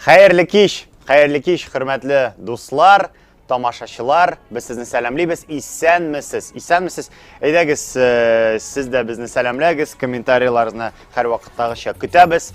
Хәерле кич, хәерле кич, хөрмәтле дуслар, тамашачылар. Без сезне сәламлибез. Исәнмесез. Исәнмесез. Әйдәгез, э, сез дә безне сәламләгез. Комментарийларыгызны һәрвакыттагыча көтәбез.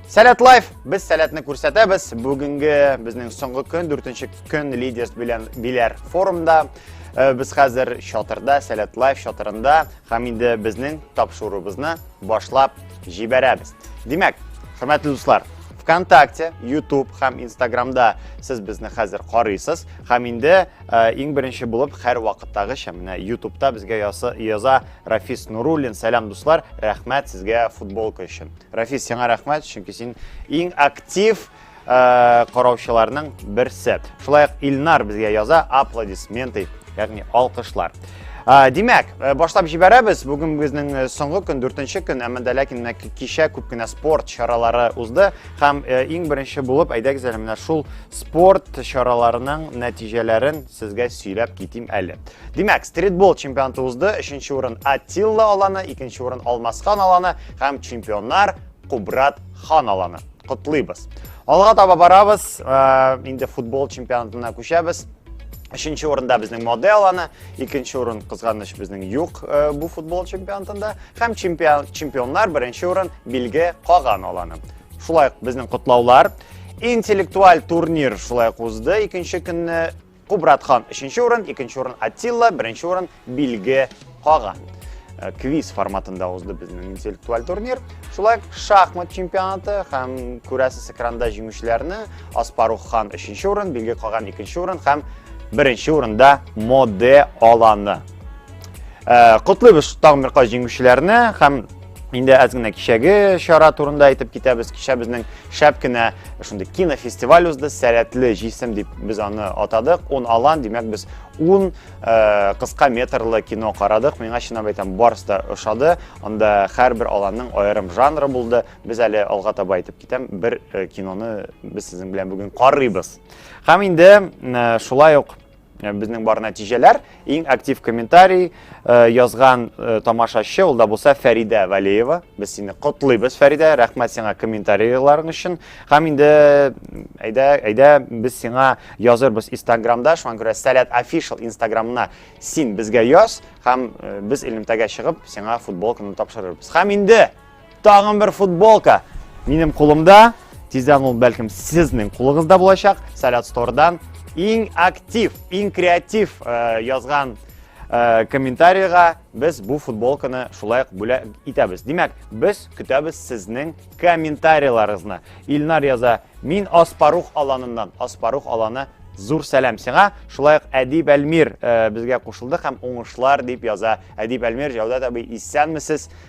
Сәләт лайф, без сәләтне күрсәтәбез. Бүгенге безнең соңгы көн, дүртенче көн лидерс белән биләр форумда. Э, без хәзер чатырда, сәләт лайф чатырында, һәм инде безнең тапшыруыбызны башлап җибәрәбез. Димәк, хөрмәтле дуслар, ВКонтакте, YouTube һәм Instagramда сез безне хәзер карыйсыз һәм инде э, иң беренче булып һәр вакыттагыча менә YouTube'та безгә ясы, яза Рафис Нуруллин. Сәлам дуслар, рәхмәт сезгә футболка өчен. Рафис, сиңа рәхмәт, чөнки син иң актив Э, караучыларның берсе. Шулай ук Илнар безгә яза аплодисменты, ягъни алкышлар. Э, димәк, э, башлап җибәрәбез. Бүген безнең соңгы көн, 4 көн, әмма дә ләкин кичә күп кенә спорт чаралары узды һәм иң беренче булып әйдәгез әле менә шул спорт чараларының нәтиҗәләрен сезгә сөйләп китим әле. Димәк, стритбол чемпионаты узды. 3 урын Атилла аланы, 2 урын Алмасхан аланы һәм чемпионнар Кубрат Хан аланы. Котлыйбыз. Алга таба барабыз, э, инде футбол чемпионатына күчәбез. Өченче урында безнең модель аны, икенче урын кызганыч безнең юк э, бу футбол чемпионатында һәм чемпион, чемпионнар беренче урын билге каган аланы. Шулай ук безнең котлаулар интеллектуаль турнир шулай ук узды. Икенче көнне Кубрат хан өченче урын, икенче урын Атилла, беренче урын Билге каган. Э, квиз форматында узды безнең интеллектуаль турнир. Шулай шахмат чемпионаты һәм күрәсез экранда җиңүчеләрне Аспарух хан өченче урын, Билге каган икенче урын һәм беренче урында Моде аланы. Э, Котлыйбыз тагын бер каз җиңүчеләрне һәм Инде әз генә кичәге чара турында әйтеп китәбез. Кичә безнең шәп кенә шундый кинофестиваль узды. Сәләтле җисем дип без аны атадык. 10 алан, димәк без 10 э, кыска метрлы кино карадык. Миңа чынлап әйтәм, барысы да ошады. Анда һәрбер аланның аерым жанры булды. Без әле алга таба әйтеп китәм, бер э, киноны без сезнең белән бүген карыйбыз. Һәм инде э, шулай ук Э, безнең бар нәтиҗәләр иң актив комментарий э, язган э, тамашачы ул да булса фәридә вәлиева без сине котлыйбыз фәридә рәхмәт сиңа комментарийларың өчен һәм инде әйдә әйдә без сиңа язырбыз инстаграмда шуңа күрә сәләт офишал инстаграмына син безгә яз һәм без элемтәгә чыгып сиңа футболканы тапшырырбыз һәм инде Тагын бер футболка минем кулымда. Тиздән ул бәлкем сезнең кулыгызда булачак. Салят стордан иң актив, иң креатив э, язган э, комментарийга без бу футболканы шулай ук бүләк итәбез. Димәк, без көтәбез сезнең комментарийларыгызны. Илнар яза, мин Аспарух аланыннан. Аспарух аланы зур сәлам сиңа. Шулай ук Әдип Әлмир э, безгә кушылды һәм уңышлар дип яза. Әдип Әлмир, Җәүдәт абый, исәнмесез.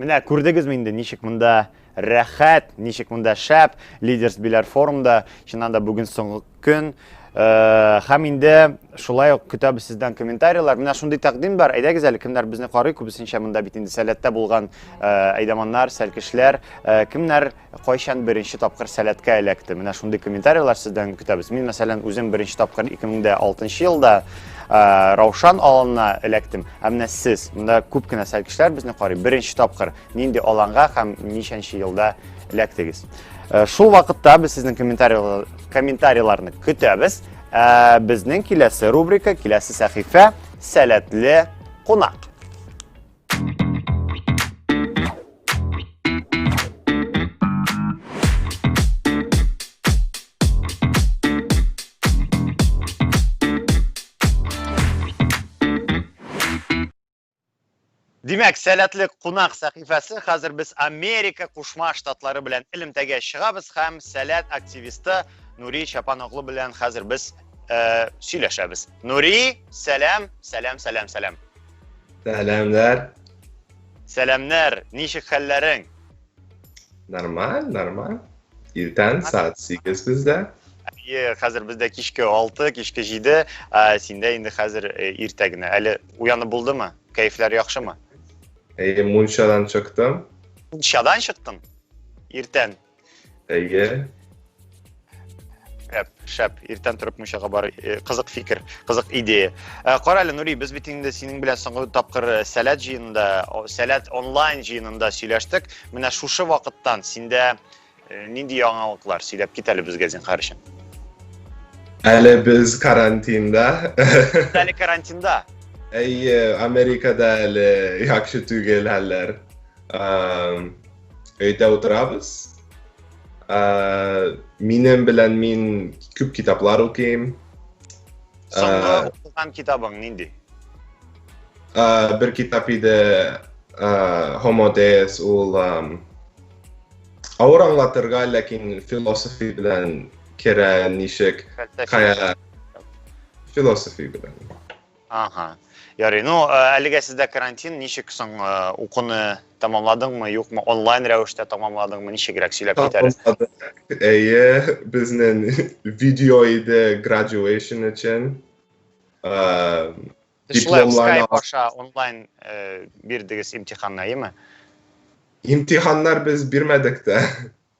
Менә күрдегезме инде, ничек монда рәхәт, ничек монда шәп, лидерс биләр форумда, чыннан да бүген соңгы көн. Э, һәм инде шулай ук көтәбез сездән комментарийлар. Менә шундый тәкъдим бар. Әйдәгез әле, кемнәр безне карый, күбесенчә монда бит инде сәләттә булган э, әйдаманнар, сәлкешләр, э, кемнәр Кайчан беренче тапкыр сәләткә эләкте? Менә шундый комментарийлар сездән көтәбез. Мин, мәсәлән, үзем беренче тапкыр 2006 елда Раушан аланына эләктем. Ә менә сез, монда күп кенә сәл кешеләр безне карый, беренче тапкыр нинди аланга һәм ничәнче елда эләктегез? Шул вакытта без сезнең комментарийларны көтәбез. Ә безнең киләсе рубрика, киләсе сәхифә сәләтле кунак. Димәк, сәләтлек кунак сәхифәсе хәзер без Америка Кушма Штатлары белән элемтәгә чыгабыз һәм сәләт активисты Нури Чапан оглы белән хәзер без э, сөйләшәбез. Нури, сәлам, сәлам, сәлам, сәлам. Сәламнәр. Сәламнәр, ничек хәлләрең? Нормаль, нормаль. Иртән саат 8 бездә. Әйе, хәзер бездә кичке 6, кичке 7, ә синдә инде хәзер э, иртә генә. Әле уянып булдымы? Кәефләр яхшымы? Әйе, мунчадан чыктым. Мунчадан чыктың? Иртән. Әйе. Шәп, шәп. Иртән торып мунчага бар. Э, кызык фикер, кызык идея. Э, кара әле, Нури, без бит инде синең белән соңгы тапкыр э, сәләт җыенында, сәләт онлайн җыенында сөйләштек. Менә шушы вакыттан синдә нинди яңалыклар сөйләп кит әле безгә зинхар өчен. Әле без карантинда. Әле карантинда. Әйе, Америкада әле яхшы түгел хәлләр. өйдә утырабыз. Ә, минем белән мин күп китаплар укыйм. Соңгы укыган китабың нинди? Ә, бер китап иде Homo Deus, ул авыр аңлатырга, ләкин философи белән керә ничек, кая философи белән. Ага. Ярый. Ну, э, әлегә сездә карантин, ничек соң э, укуны тәмамладыңмы, юкмы, онлайн рәвештә тәмамладыңмы, ничегрәк сөйләп кит әле. Әйе, безнең видео иде graduation өчен. Э, шулай скайп аша онлайн бирдегез имтиханны, әйеме? Имтиханнар без бирмәдек тә.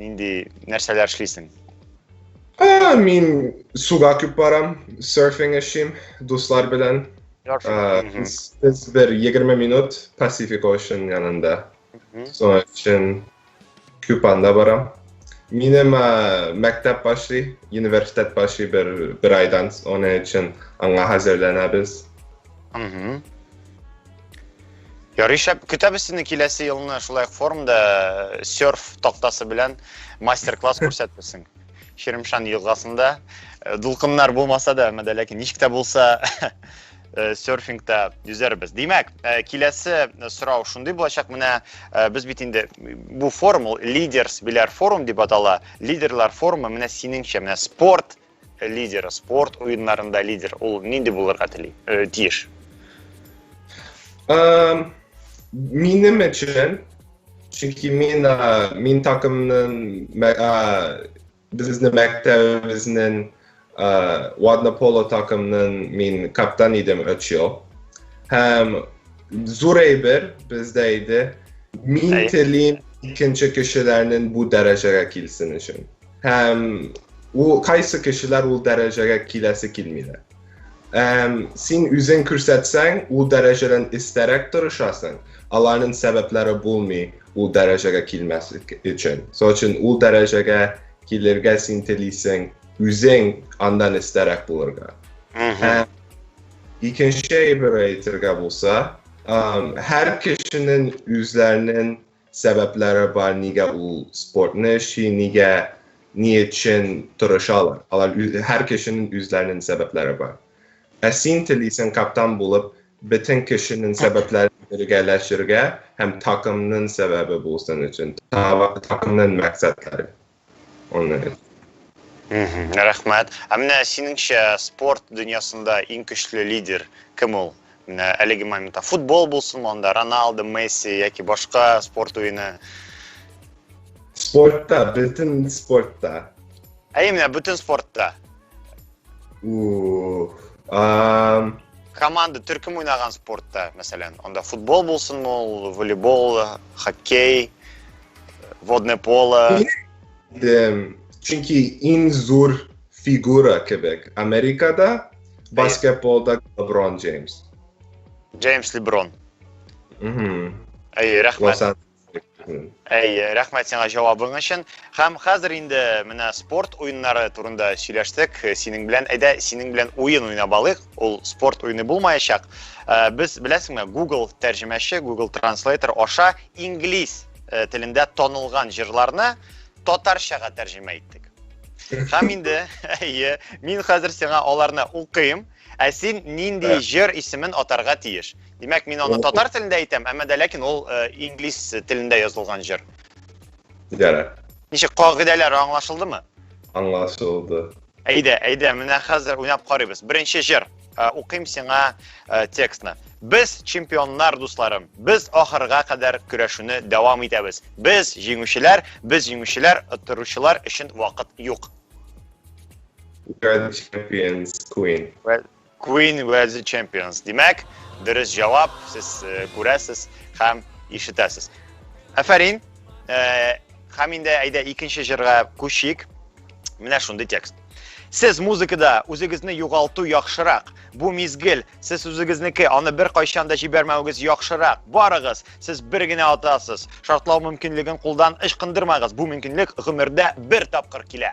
Нинди нәрсәләр эшлисең? Ә, мин суга күп барам, серфинг эшлим дуслар белән. Без бер 20 минут Pacific Ocean янында. Соң өчен күп анда барам. Минем мәктәп башлый, университет башлый бер, бер айдан, оның өчен аңа әзерләнәбез. Угу. Ярый шәп. Көтәбез сине киләсе елны шулай ук форумда э, серф тактасы белән мастер-класс күрсәтерсең. Ширимшан елгасында э, дулкыннар булмаса да, әмма дә ләкин ничек тә булса э, серфингта йөзәрбез. Димәк, э, киләсе сорау шундый булачак, менә э, без бит инде бу форум ул лидерс биләр форум дип атала. Лидерлар форумы менә синеңчә, менә спорт лидер спорт уеннарында лидер ул нинди булырга тели э, тиеш минем өчен чөнки мин мин такымның безнең мәктәбебезнең ладно поло такымның мин каптан идем өч ел һәм зур әйбер бездә иде мин телим икенче кешеләрнең бу дәрәҗәгә килсен өчен Һәм ул кайсы кешеләр ул дәрәҗәгә киләсе килмиләр. Һәм син үзең күрсәтсәң, ул дәрәҗәдән истәрәк торышасың, аларның сәбәпләре булмый ул дәрәҗәгә килмәс өчен. Сол өчен ул дәрәҗәгә килергә син телисең, үзең андан истәрәк булырга. Һәм икенче әйбер әйтергә булса, һәр кешенең үзләренең сәбәпләре бар, нигә ул спортны эшли, нигә, ни өчен тырышалар. Алар һәр кешенең үзләренең сәбәпләре бар. Ә син телисең каптан булып бөтен кешенең сәбәпләрен бергәләшергә һәм такымның сәбәбе булсын өчен, такымның мәксәтләре. Аны әйт. Рәхмәт. Ә менә синеңчә спорт дөньясында иң көчле лидер кем ул? Менә әлеге моментта футбол булсын анда, Роналдо, Месси яки башка спорт уены. Спортта, бөтен спортта. Ә именно бөтен спортта. Команда төркем уйнаган спортта, мәсәлән, анда футбол булсынмы ул, волейбол, хоккей, водное поло. Чөнки иң зур фигура кебек Америкада баскетболда Леброн Джеймс. Джеймс Леброн. Әйе, рәхмәт. Әй, рәхмәт сиңа җавабың өчен. Хәм хәзер инде менә спорт уеннары турында сөйләштек. Синең белән әйдә, синең белән уен уйнап алыйк. Ул спорт уены булмаячак. Э, без беләсеңме, Google тәрҗемәче, Google Translator аша инглиз э, телендә танылган җырларны татарчага тәрҗемә иттек. Хәм инде, әйе, мин хәзер сиңа аларны укыйм. Ә син нинди Ә. җыр исемен атарга тиеш? Димәк, мин аны татар телендә әйтәм, әмма дә ләкин ул э, инглиз телендә язылган җыр. Ярар. Ничек кагыйдәләр аңлашылдымы? Аңлашылды. Әйдә, әйдә, менә хәзер уйнап карыйбыз. Беренче җыр. Э, Укыйм сиңа э, текстны. Без чемпионнар, дусларым. Без ахырга кадәр көрәшүне дәвам итәбез. Без җиңүчеләр, без җиңүчеләр, оттыручылар өчен вакыт юк. World Champions Queen. Well, Queen was the champions. Димәк, дөрес җавап сез э, күрәсез һәм ишетәсез. Афәрин. Э, һәм инде әйдә икенче җырга күчик. Менә шундый текст. Сез музыкада үзегезне югалту яхшырак. Бу мизгел сез үзегезнеке, аны бер кайчан да җибәрмәвегез яхшырак. Барыгыз, сез бер генә атасыз. Шартлау мөмкинлеген кулдан ычкындырмагыз. Бу мөмкинлек гомердә бер тапкыр килә.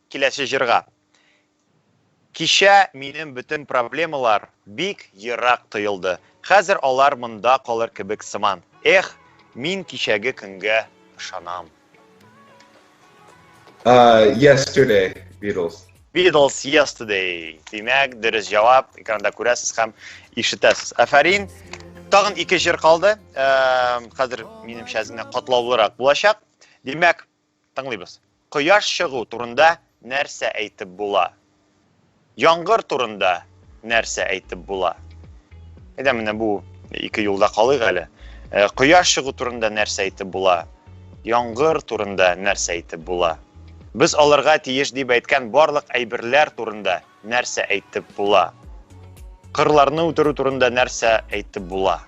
Киләсе җырга. Кичә минем бөтен проблемалар бик ерак тоелды. Хәзер алар монда калыр кебек сыман. Эх, мин кичәге көнгә ышанам. Yesterday, Beatles. Beatles, Yesterday. Димәк, дөрес җавап экранда күрәсез һәм ишетәсез. Афәрин. Тагын ике җыр калды. Хәзер минемчә әзенә катлаулырак булачак. Димәк, Тыңлыйбыз. Кояш чыгу турында нәрсә әйтеп була? Яңгыр турында нәрсә әйтеп була? Әйдә менә бу ике юлда калыйк әле. Э, кояш чыгу турында нәрсә әйтеп була? Яңгыр турында нәрсә әйтеп була? Без алырга тиеш дип әйткән барлык әйберләр турында нәрсә әйтеп була? Кырларны үтерү турында нәрсә әйтеп була?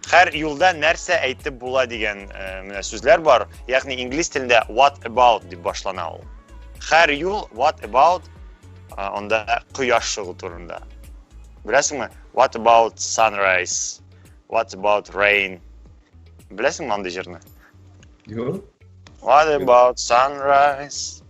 Хәр юлда нәрсә әйтеп була дигән менә сүзләр бар. Ягъни инглиз телендә what about дип башлана ул. Хәр юл what about анда кояш чыгу турында. Беләсеңме? What about sunrise? What about rain? Беләсеңме андый җырны? Юк. What about sunrise?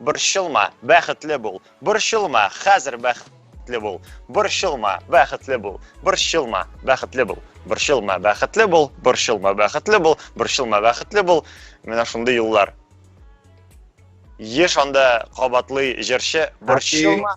Борчылма, бәхетле бул. Борчылма, хәзер бәхетле бул. Борчылма, бәхетле бул. Борчылма, бәхетле бул. Борчылма, бәхетле бул. Борчылма, бәхетле бул. Борчылма, бәхетле бул. Менә шундый юллар. Еш анда кабатлый җырчы. Борчылма,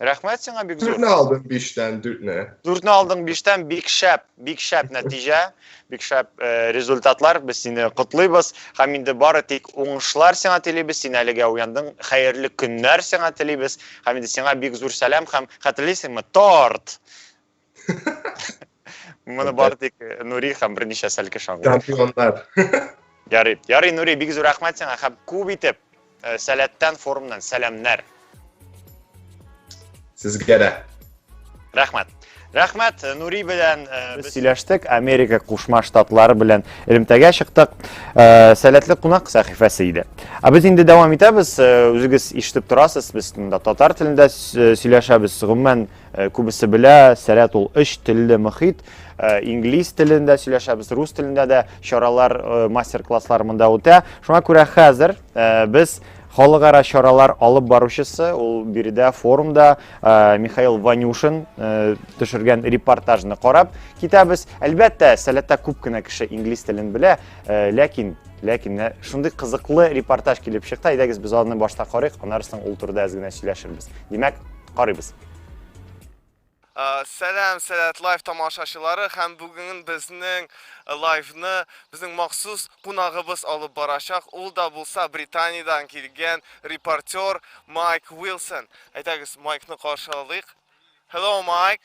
Рәхмәт сиңа бик зур. Дүртне алдың биштән, дүртне. Дүртне алдың биштән, бик шәп, бик шәп нәтиҗә, бик шәп э, результатлар. Без сине котлыйбыз. Һәм инде бары тик уңышлар сиңа телибез. Син әлегә уяндың. Хәерле көннәр сиңа телибез. Һәм инде сиңа бик зур сәлам һәм хәтерлисеңме, торт. Моны бар тик э, Нури һәм берничә сәл кеше аңлый. Чемпионнар. Ярый. Ярый, Нури, бик зур рәхмәт сиңа һәм күп итеп э, Сәләттән форумнан сәламнәр. Сезгә дә. Рәхмәт. Рәхмәт, э, Нури белән без сөйләштек, Америка Кушма Штатлары белән элемтәгә чыктык. Сәләтле кунак сәхифәсе иде. Ә без инде дәвам итәбез. Үзегез ишетеп торасыз, без монда татар телендә сөйләшәбез. Гомумән, Э, күбесе белә сәләт ул өч телле мөхит э, инглиз телендә сөйләшәбез рус телендә дә чаралар э, мастер класслар монда үтә шуңа күрә хәзер без халыкара чаралар алып баручысы ул биредә форумда михаил ванюшин төшергән репортажны карап китәбез әлбәттә сәләттә күп кенә кеше инглиз телен белә ләкин ләкин шундый кызыклы репортаж килеп чыкты әйдәгез без аны башта карыйк аннары соң ул турыда әз генә сөйләшербез димәк Карыйбыз. Сәлам, Сәләт лайф тамашачылары һәм бүген безнең лайфны безнең махсус кунагыбыз алып барачак. Ул да булса Британиядән килгән репортер Майк Уилсон. Әйдәгез, Майкны каршы алыйк. Hello, Майк.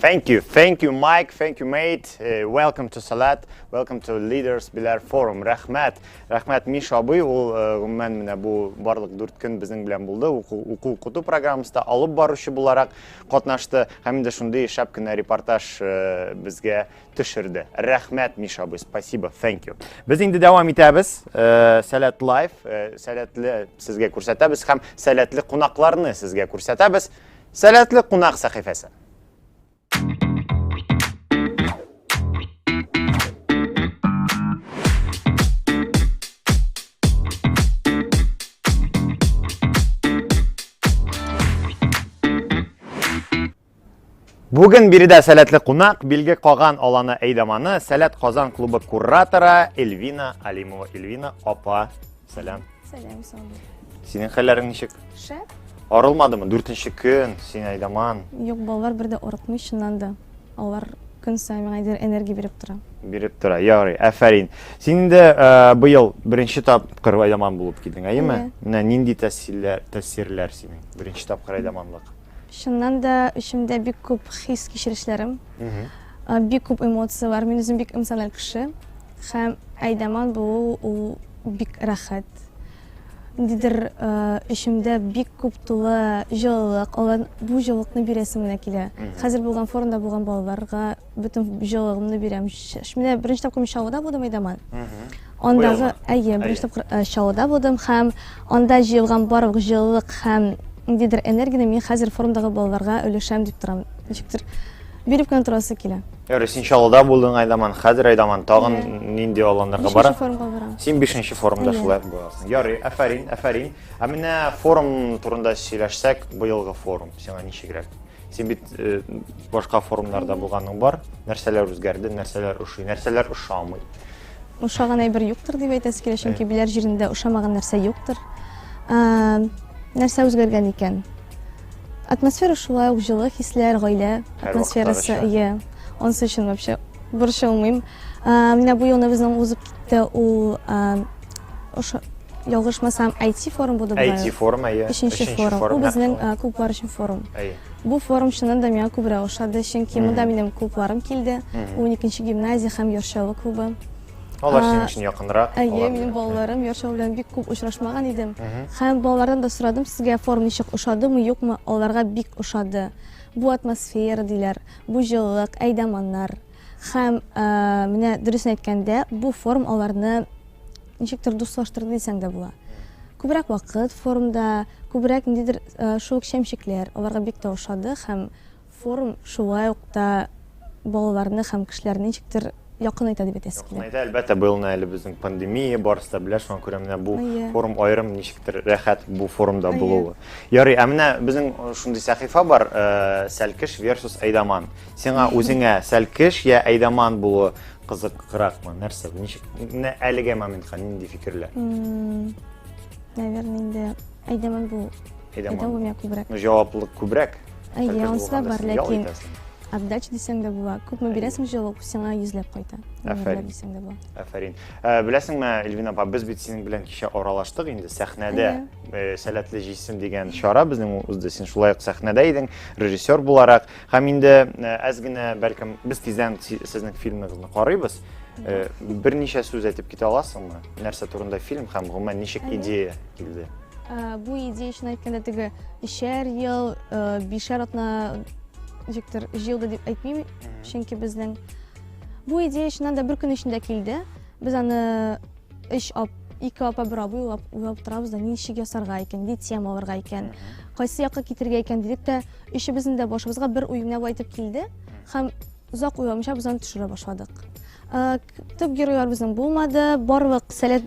Thank you. Thank you, Mike. Thank you, mate. Uh, welcome to Salat. Welcome to Leaders Bilar Forum. Рәхмәт. Рәхмәт Миша абый. Ул э, гомумән менә бу барлык 4 көн безнең белән булды. Уку укыту программасында алып баручы буларак катнашты һәм инде шундый шәп кенә репортаж э, безгә төшерде. Рәхмәт Миша абый. Спасибо. Thank you. Без инде дәвам итәбез. Э, Сәләт лайф, сәләтле сезгә күрсәтәбез һәм сәләтле кунакларны сезгә күрсәтәбез. Сәләтле кунак сәхифәсе. Бүген биредә сәләтле кунак, билге каган аланы әйдаманы, сәләт Казан клубы кураторы Эльвина Алимова. Эльвина апа, Сәлам. Сәлам, Сандур. Синең хәлләрең ничек? Шәп. Арылмадымы? Дүртенче көн, син айдаман. Юк, балалар бер дә арытмый, чыннан да. Алар көн саен миңа әйдер энергия биреп тора. Биреп тора, ярый, әфәрин. Син инде ә, быел беренче тапкыр айдаман булып килдең, әйеме? Әйе. Менә нинди тәсирләр, тәсирләр синең беренче тапкыр айдаманлык? Чыннан да эчемдә бик күп хис кичерешләрем, Мгм. а, бик күп эмоцияләр. Мин үзем бик эмоциональ кеше. Һәм Айдаман булу ул бик рәхәт. Ниндидер эчемдә бик күп тулы җылылык, алар бу җылылыкны бирәсем генә килә. Хәзер булган форумда булган балаларга бөтен җылылыгымны бирәм. Менә беренче тапкыр мин Чаллыда булдым, Айдаман. Андагы, әйе, беренче тапкыр Чаллыда булдым һәм анда җыелган барлык җылылык һәм ниндидер энергияне мин хәзер форумдагы балаларга өләшәм дип торам. Ничектер биреп кенә торасы килә. Ярый, син Чаллыда булдың, Айдаман, хәзер Айдаман тагын нинди аланнарга бара? Бишенче форумга барам. Син бишенче форумда шулай буласың. Ярый, әфәрин, әфәрин. Ә менә форум турында сөйләшсәк, быелгы форум сиңа ничегрәк? Син бит э, башка форумнарда булганың бар. Нәрсәләр үзгәрде, нәрсәләр ошый, нәрсәләр ошамый? Ошаган әйбер юктыр дип әйтәсе килә, чөнки биләр җирендә ошамаган нәрсә юктыр. Нәрсә үзгәргән икән? Атмосфера шулай ук җылы хисләр, гаилә атмосферасы. Иә. Онсы өчен вообще борчылмыйм. Менә бу елны безнең узып китте ул ошо ялгышмасам IT форум булды бу. IT форум, әйе. Өченче форум. Бу безнең клублар өчен форум. Әйе. Бу форум чыннан да миңа күбрәк ошады, чөнки монда минем клубларым килде. 12 нче гимназия һәм Йоршалы клубы. Алар синең өчен якынрак. Әйе, минем балаларым яшәү белән бик күп очрашмаган идем. Һәм балалардан да сорадым, сезгә форум ничек ошадымы, юкмы? Аларга бик ошады. Бу атмосфера диләр, бу җылылык, әйдаманнар. Һәм менә дөресен әйткәндә, бу форум аларны ничектер дуслаштырды дисәң дә була. Күбрәк вакыт форумда, күбрәк ниндидер шук шәмчекләр аларга бик тә ошады һәм Форум шулай ук та балаларны һәм кешеләрне ничектер якынайта дип әйтәсе килә. Якынайта, әлбәттә, быел менә әле безнең пандемия, барысы да белә, шуңа күрә менә бу форум аерым, ничектер рәхәт бу форумда булуы. Ярый, ә менә безнең шундый сәхифә бар, Сәлкеш версус Әйдаман. Сиңа үзеңә Сәлкеш я Әйдаман булуы кызыгракмы? Нәрсә, ничек, менә әлегә моментка нинди фикерләр? Наверное, инде. Әйдәман бул. Әйдәман бул. күбрәк. Ну, җаваплылык күбрәк. Әйе, анысы да бар, ләкин отдача дисәң дә була. Күпме бирәсең җылы, сиңа йөзләп кайта. Әфәрин. Дисәң дә була. Әфәрин. Э, беләсеңме, Эльвина апа, без бит синең белән кичә аралаштык инде сәхнәдә. Э, Сәләтле җисем дигән чара безнең узды. Син шулай ук сәхнәдә идең, режиссер буларак. Һәм инде э, әз генә, бәлкем, без тиздән сезнең фильмыгызны карыйбыз. Берничә сүз әйтеп китә аласыңмы? Нәрсә турында фильм һәм гомумән ничек идея? килде. Э, бу идея өчен әйткәндә теге өчәр ел, э, бишәр атна җиктер җыелды дип әйтмим, чөнки безнең бу идея өчен дә бер көн эчендә килде. Без аны өч ап, ике апа бер абый уйлап, уйлап торабыз да, ничек ясарга икән, ни тема алырга икән, кайсы якка китергә икән дидек тә, өчебезнең дә башыбызга бер уй генә әйтеп килде һәм озак уйламыйча без аны төшерә башладык. Э, төп геройлар безнең булмады, барлык сәләт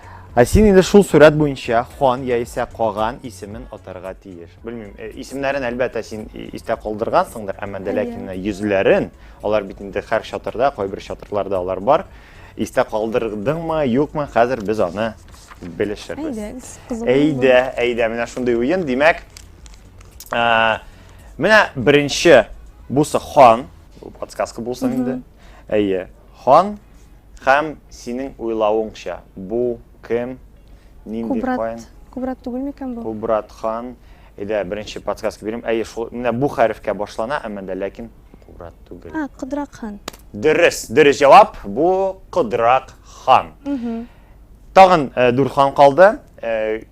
Ә син инде шул сурәт буенча хан яисә каган исемен атарга тиеш. Белмим, э, исемнәрен әлбәттә син истә калдыргансыңдыр, әмма дә ләкин йөзләрен, алар бит инде һәр чатырда, кайбер чатырларда алар бар. Истә калдырдыңмы, юкмы, хәзер без аны белешербез. Әйдәгез, кызыклы. Әйдә, әйдә, менә шундый уен. Димәк, ә, менә беренче бусы хан, подсказка булсын инде. Әйе, хан Һәм, синең уйлавыңча, бу кем? Нинди Кубрат, каен? Кубрат түгел микән бу? Кубрат хан. Әйдә, беренче подсказка бирим. Әйе, шул, менә бу хәрефкә башлана, әмма дә ләкин Кубрат түгел. А, Кудрак хан. Дөрес, дөрес җавап. Бу Кудрак хан. Тагын э, дүрт хан калды. Э,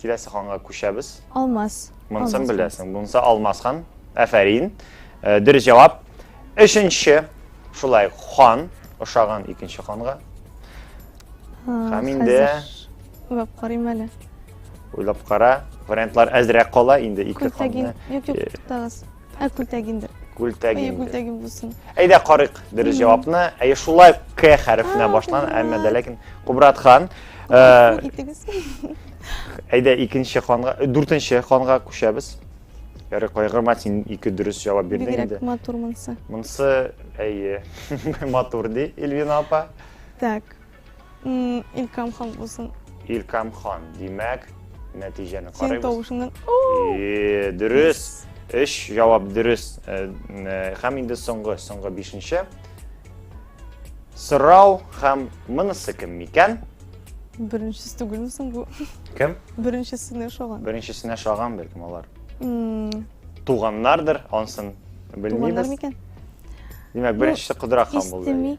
Киләсе ханга күчәбез. Алмаз. Монсын беләсең. Монсы Алмаз хан. Әфәрин. Э, дөрес җавап. Өченче шулай хан ошаган икенче ханга. Һәм инде уйлап карыйм әле. Уйлап кара. Вариантлар әзрәк кала инде ике ханны. Юк, юк, э, туктагыз. Ә күлтәк инде. Күлтәк Әйе, инде. күлтәгем булсын. Әйдә карыйк дөрес җавапны. Әйе, шулай К хәрефенә башлан, әмма дә ләкин Кубрат хан. э, Итегез. Әйдә икенче ханга, э, дүртенче ханга күчәбез. Ярый, кайгырма, син ике дөрес җавап бирдең инде. Бигрәк матур монсы. Монсы, әйе, матур ди Эльвина апа. Так, Илкам хан булсын. Илкам хан, димәк, нәтиҗәне Син карыйбыз. тавышыңнан. Э, Дөрес. Өч җавап дөрес. Э, э, Һәм инде соңгы, соңгы бишенче. Сорау һәм монысы кем микән? Беренчесе түгелме соң бу? Кем? Беренчесенә ошаган. Беренчесенә шаган бәлкем алар. М, Туганнардыр, ансын Туганнар белмибез. микән? Димәк, беренчесе Кудра хан булды. Истеми.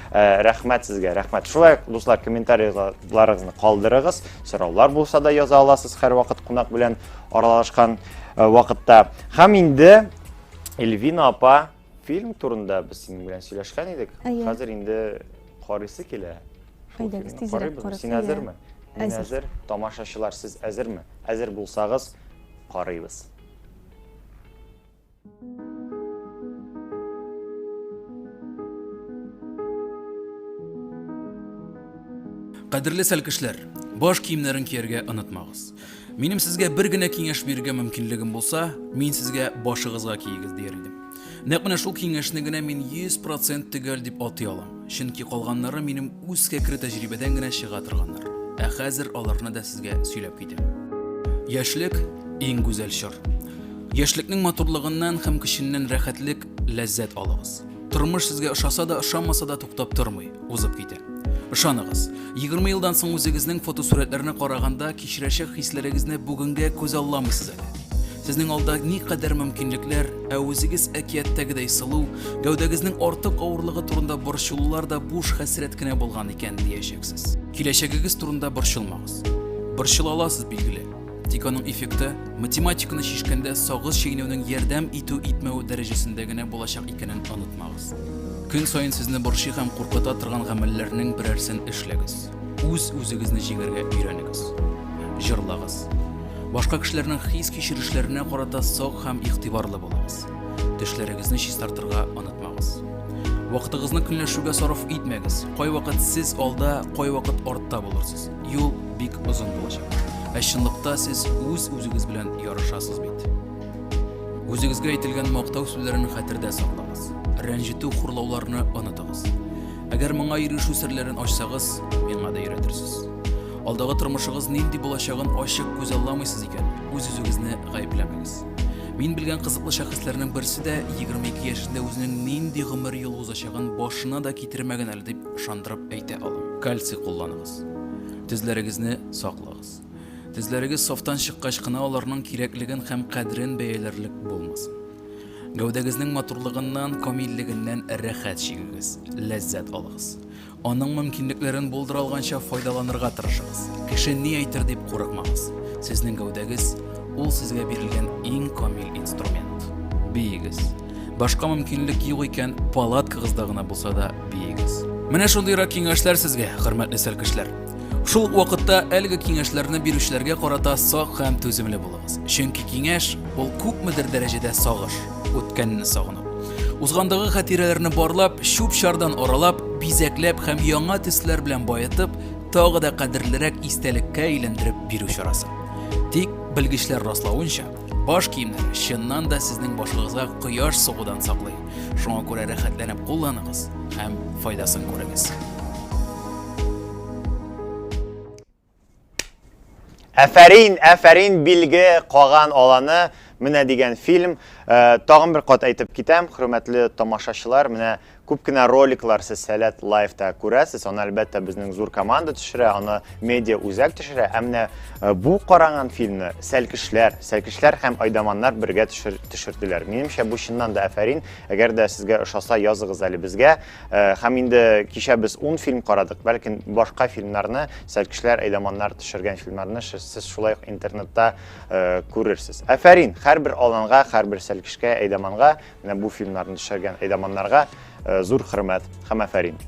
Ә, рәхмәт сезгә, рәхмәт. Шулай ук, дуслар, комментарийларыгызны калдырыгыз. Сораулар булса да яза аласыз һәрвакыт кунак белән аралашкан э, вакытта. Һәм инде Эльвина апа фильм турында без синең белән сөйләшкән идек. Әйе. Хәзер инде карыйсы килә. Шул Әйдәгез, фильмны тизрәк карыйбызмы? карыйсы, Син иә. әзерме? Мин Әзер. әзер. Тамашачылар, сез әзерме? Әзер булсагыз, карыйбыз. Кадерле сәлкешләр, баш киемнәрен кияргә онытмагыз. Минем сезгә бер генә киңәш бирергә мөмкинлегем булса, мин сезгә башыгызга киегез дияр идем. Нәкъ менә шул киңәшне генә мин 100% төгәл дип атый алам. Чөнки калганнары минем үз кәкре тәҗрибәдән генә чыга торганнар. Ә хәзер аларны да сезгә сөйләп китәм. Яшьлек иң гүзәл чор. Яшьлекнең матурлыгыннан һәм көченнән рәхәтлек, ләззәт алыгыз. Тормыш сезгә ошаса да, ошамаса да туктап тормый, узып китә. Ышаныгыз, егерме елдан соң үзегезнең фотосурәтләрне караганда, кичерәчәк хисләрегезне бүгенгә күзалламыйсыз әле. Сезнең алда никадәр мөмкинлекләр, ә үзегез әкияттәгедәй сылу, гәүдәгезнең артык авырлыгы турында борчылулар да буш хәсрәт кенә булган икән, диячәксез. Киләчәгегез турында борчылмагыз. Борчыла аласыз, билгеле. Тик аның эффекты математиканы шешкәндә сагыз чигенүнең ярдәм итү итмәү дәрәҗәсендә генә булачак икәнен онытмагыз. Көн саен сезне борчый һәм куркыта торган гамәлләрнең берәрсен эшләгез. Үз үзегезне җигәргә өйрәнегез. Җырлагыз. Башка кешеләрнең хис кичерешләренә карата сак һәм игътибарлы булыгыз. Төшләрегезне чистартырга онытмагыз. Вакытыгызны көнләшүгә сарыф итмәгез. Кайвакыт сез алда, кайвакыт артта булырсыз. Юл бик озын булачак. Ә чынлыкта сез үз үзегез белән ярышасыз бит. Үзегезгә әйтелгән мактау сүзләрен хәтердә саклагыз. Рәнҗетү, хурлауларны онытыгыз. Әгәр моңа ирешү серләрен ачсагыз, миңа да өйрәтерсез. Алдагы тормышыгыз нинди булачагын ачык күз алламыйсыз икән, үз-үзегезне гаепләмәгез. Мин белгән кызыклы шәхесләрнең берсе дә 22 яшендә үзенең нинди гомер юлы узачагын башына да китермәгән әле дип ышандырып әйтә алам. Кальций кулланыгыз. Тезләрегезне саклагыз. Тезләрегез сафтан чыккач кына аларның кирәклеген һәм кадерен бәяләрлек булмасын. Гәүдәгезнең матурлыгыннан, камиллегеннән рәхәт чигегез, ләззәт алыгыз. Аның мөмкинлекләрен булдыра алганча файдаланырга тырышыгыз. Кеше ни әйтер дип курыкмагыз. Сезнең гәүдәгез, ул сезгә бирелгән иң камил инструмент. Биегез. Башка мөмкинлек юк икән, палаткагызда гына булса да биегез. Менә шундыйрак киңәшләр сезгә, хөрмәтле сәркешләр. Шул ук вакытта әлеге киңәшләрне бирүчеләргә карата сак һәм түземле булыгыз. Чөнки киңәш ул күпмедер дәрәҗәдә сагыш, үткәнне сагыну. Узгандагы хатирәләрне барлап, чүп-чардан аралап, бизәкләп һәм яңа төсләр белән баетып, тагы да кадерлерәк истәлеккә әйләндереп бирү чарасы. Тик белгечләр раславынча, Баш киемнәр чыннан да сезнең башыгызга кояш сугудан саклый. Шуңа күрә рәхәтләнеп кулланыгыз һәм файдасын күрегез. Әфәрин, әфәрин билге каган аланы менә дигән фильм. Э, тагын бер кат әйтеп китәм, хөрмәтле тамашачылар, менә Күп кенә роликлар сез Сәләт Лайфта күрәсез, аны әлбәттә безнең зур команда төшерә, аны медиа үзәк төшерә, ә менә э, бу караган фильмны Сәлкешләр, Сәлкешләр һәм Айдаманнар бергә төшер, төшерделәр. Минемчә бу чыннан да әфәрин. Әгәр дә сезгә ошаса, языгыз әле безгә. Э, һәм инде кичә без 10 фильм карадык, бәлкем башка фильмнарны, Сәлкешләр, Айдаманнар төшергән фильмнарны сез шулай ук интернетта э, күрерсез. Әфәрин, һәрбер аланга, һәрбер Сәлкешкә, Айдаманга Менә бу фильмнарны төшергән әйдаманнарга зур хөрмәт һәм афәрин.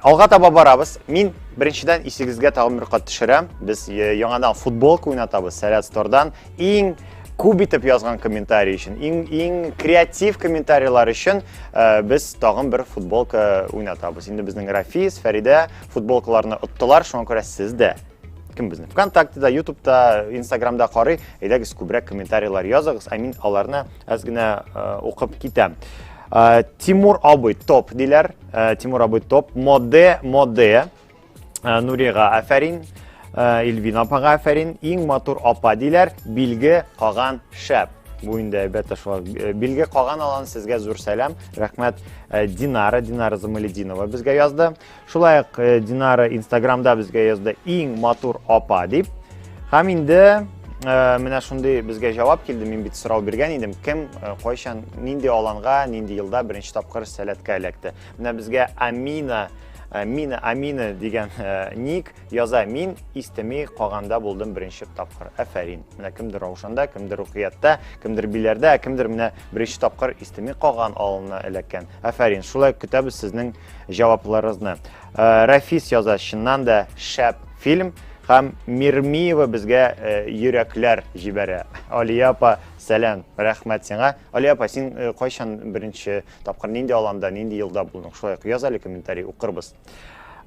Алга таба барабыз. Мин беренчедән исегезгә тагын бер кат төшерәм. Без яңадан футболка уйнатабыз Сәләт Стордан. Иң күп итеп язган комментарий өчен, иң иң креатив комментарийлар өчен без тагын бер футболка уйнатабыз. Инде безнең Рафис, Фәридә футболкаларны оттылар, шуңа күрә сез дә кем безне вконтактеда ютубта инстаграмда карый әйдәгез күбрәк комментарийлар языгыз ә мин аларны әз генә укып китәм тимур абый топ диләр тимур абый топ моде моде нурига афәрин Илвин апага афәрин иң матур апа диләр билге каган шәп бу инде әлбәттә шулай э, билге калган алан сезгә зур сәлам рәхмәт э, динара динара замалетдинова безгә язды Шулай ук э, Динара инстаграмда безгә язды иң матур апа дип. Һәм инде э, менә шундый безгә җавап килде. Мин бит сорау биргән идем, кем э, кайчан нинди аланга, нинди елда беренче тапкыр сәләткә эләкте. Менә безгә Амина Э, мина амина дигән э, ник яза мин истеми каганда булдым беренче тапкыр әфәрин менә кемдер раушанда кемдер рукиятта кемдер биләрдә ә кемдер менә беренче тапкыр истеми каган алына эләккән әфәрин шулай көтәбез сезнең җавапларыгызны. Э, Рәфис яза, чыннан да шәп фильм һәм Мирмиева безгә э, йөрәкләр җибәрә. Алия апа, сәлам, рәхмәт сиңа. Алия апа, син э, кайчан беренче тапкыр нинди аланда, нинди елда булдың? Шулай ук яз әле комментарий укырбыз.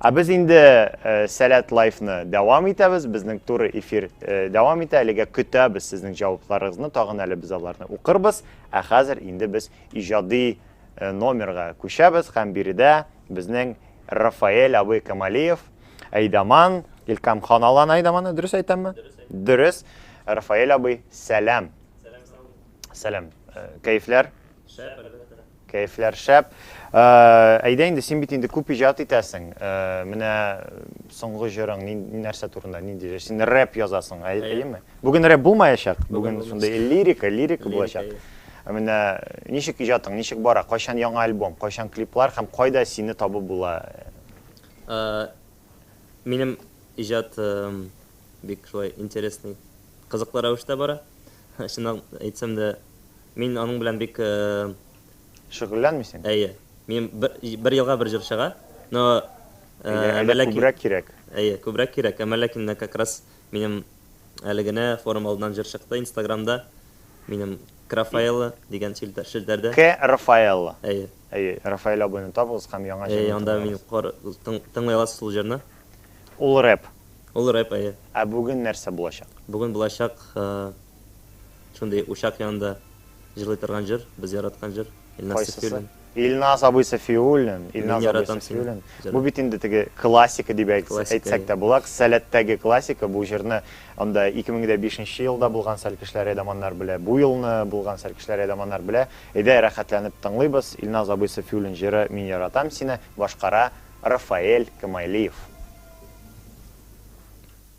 Ә без инде э, Сәләт лайфны дәвам итәбез. Безнең туры эфир дәвам итә. Әлегә көтәбез сезнең җавапларыгызны. Тагын әле без аларны укырбыз. Ә хәзер инде без иҗади номерга күчәбез һәм биредә безнең Рафаэль абый Камалиев, Айдаман, Илкам хан алган Айдаманы, дөрес әйтәмме? Дөрес. Рафаэль абый, сәлам. Сәлам. Э, кәефләр? Шәп, әлбәттә. Кәефләр шәп. Э, әйдә инде, син бит инде күп иҗат итәсең. Э, менә соңгы җырың нәрсә турында, нинди? Син рэп язасың, әйеме? Бүген рэп булмаячак. Бүген шундый лирика, лирика булачак. Ә менә ничек иҗатың, ничек бара, кайчан яңа альбом, кайчан клиплар һәм кайда сине табып була? Ә, минем иҗат бик шулай интересный, кызыклы рәвештә бара. Чынын әйтсәм дә, мин аның белән бик. Шөгыльләнмисең? Әйе. Минем бер, бер елга бер җыр чыга, но, ә, Әллә күбрәк кирәк? Әйе, күбрәк кирәк, әмма ләкин менә как раз Минем әле генә форум алдыннан җыр чыкты инстаграмда, минем Крафаэлло дигән челтәрдә. К Рафаэлло. Әйе. Әйе, Рафаэль абыйны табыгыз һәм яңа җырны тыңлагыз. Әйе, анда мин хор, тыңлый аласыз ул җырны. Ул рэп. Ул рэп, әйе. Ә бүген нәрсә булачак? Бүген булачак, Шундый учак янында җырлый торган җыр, без яраткан җыр, Илназ Сафиуллин. Илназ абый Сафиуллин, Илназ абый Сафиуллин. Бу бит инде теге классика дип әйтсәк тә була, Сәләттәге классика. Бу җырны анда 2005 нче елда булган Сәлкешләр Эдаманнар белә, бу елны булган Сәлкешләр Эдаманнар белә. Әйдә, рәхәтләнеп тыңлыйбыз, Илназ абый Сафиуллин җыры Мин яратам сине, башкара Рафаэль Камайлиев.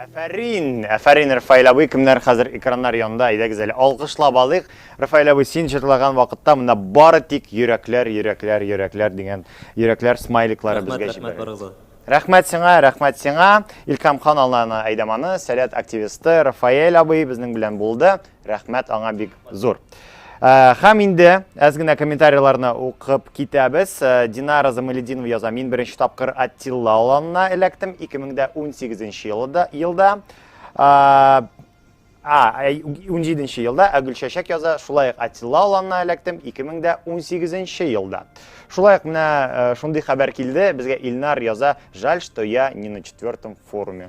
Әфәрин! Әфәрин, Рафаэль абый, кемнәр хәзер экраннар янында, әйдәгез әле алкышлап алыйк. Рафаэль абый, син җырлаган вакытта монда бары тик йөрәкләр, йөрәкләр, йөрәкләр дигән йөрәкләр смайликлары Рәхмәт, безгә рәхмәт җибәрелде. барыгызга. Рәхмәт сиңа, рәхмәт сиңа. Илкам хан Алланы Әйдаманы, Сәләт активисты Рафаэль абый безнең белән булды. Рәхмәт аңа бик зур. Э, һәм инде әз генә комментарийларны укып китәбез. Э, Динара Замалединова яза, мин беренче тапкыр Аттилла аланына эләктем 2018 елда. елда. Э, а, 17 елда ә Гөлчәчәк яза, шулай ук Аттилла аланына эләктем 2018 елда. Шулай ук менә шундый хәбәр килде, безгә Илнар яза, жаль, что я не на четвертом форуме.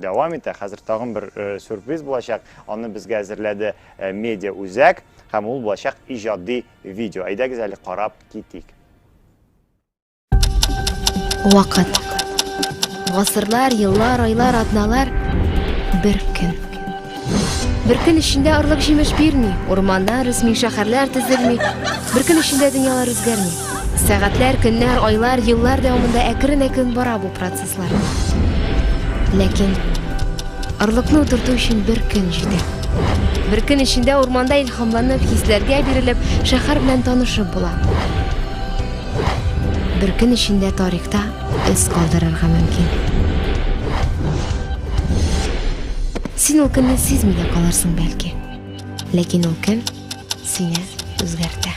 Дәвам итә. Хәзер тагын бер сюрприз булачак. Аны безгә әзерләде медиа үзәк һәм ул булачак иҗади видео. Әйдәгез әле карап китик. Вакыт. Гасырлар, еллар, айлар, атналар, бер көн. Бер көн эчендә орлык җимеш бирми, урманнар үсми, шәһәрләр төзелми. Бер көн эчендә дөньялар үзгәрми. Сәгатьләр, көннәр, айлар, еллар дәвамында әкрен-әкрен бара бу процесслар. Ләкин орлыкны утырту өчен бер көн җитә. Бер көн эчендә урманда илһамланып, хисләргә бирелеп, шәһәр белән танышып була. Бер көн эчендә тарихта эз калдырырга мөмкин. Син ул көнне сизми дә калырсың бәлки. Ләкин ул көн сине үзгәртә.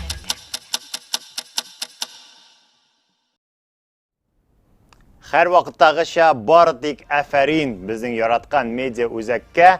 Хәр вакыттагыча бары тик әфәрин безнең яраткан медиа үзәккә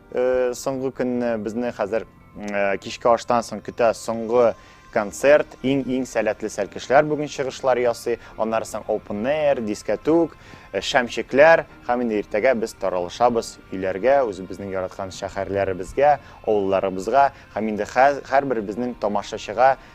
Соңгы көнне безне хәзер кичке аштан соң көтә соңгы концерт, иң-иң сәләтле сәлкешләр бүген чыгышлар ясый, аннары соң open air, дискәтүк, э, шәмчекләр, һәм инде иртәгә без таралышабыз өйләргә, үзебезнең яраткан шәһәрләребезгә, авылларыбызга, һәм инде һәрберебезнең тамашачыга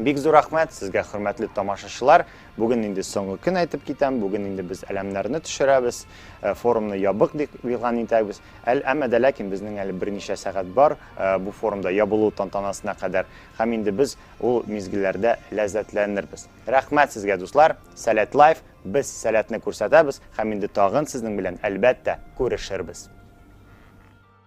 Бик зур рәхмәт сезгә, хөрмәтле тамашачылар. Бүген инде соңгы көн әйтеп китәм. Бүген инде без әләмнәрне төшерәбез, э, форумны ябык дип игълан итәбез. Әл әмма дә ләкин безнең әле берничә сәгать бар э, бу форумда ябылу тантанасына кадәр. Һәм инде без ул мизгелләрдә ләззәтләнербез. Рәхмәт сезгә, дуслар. Сәләт лайф, без сәләтне күрсәтәбез һәм инде тагын сезнең белән әлбәттә күрешербез.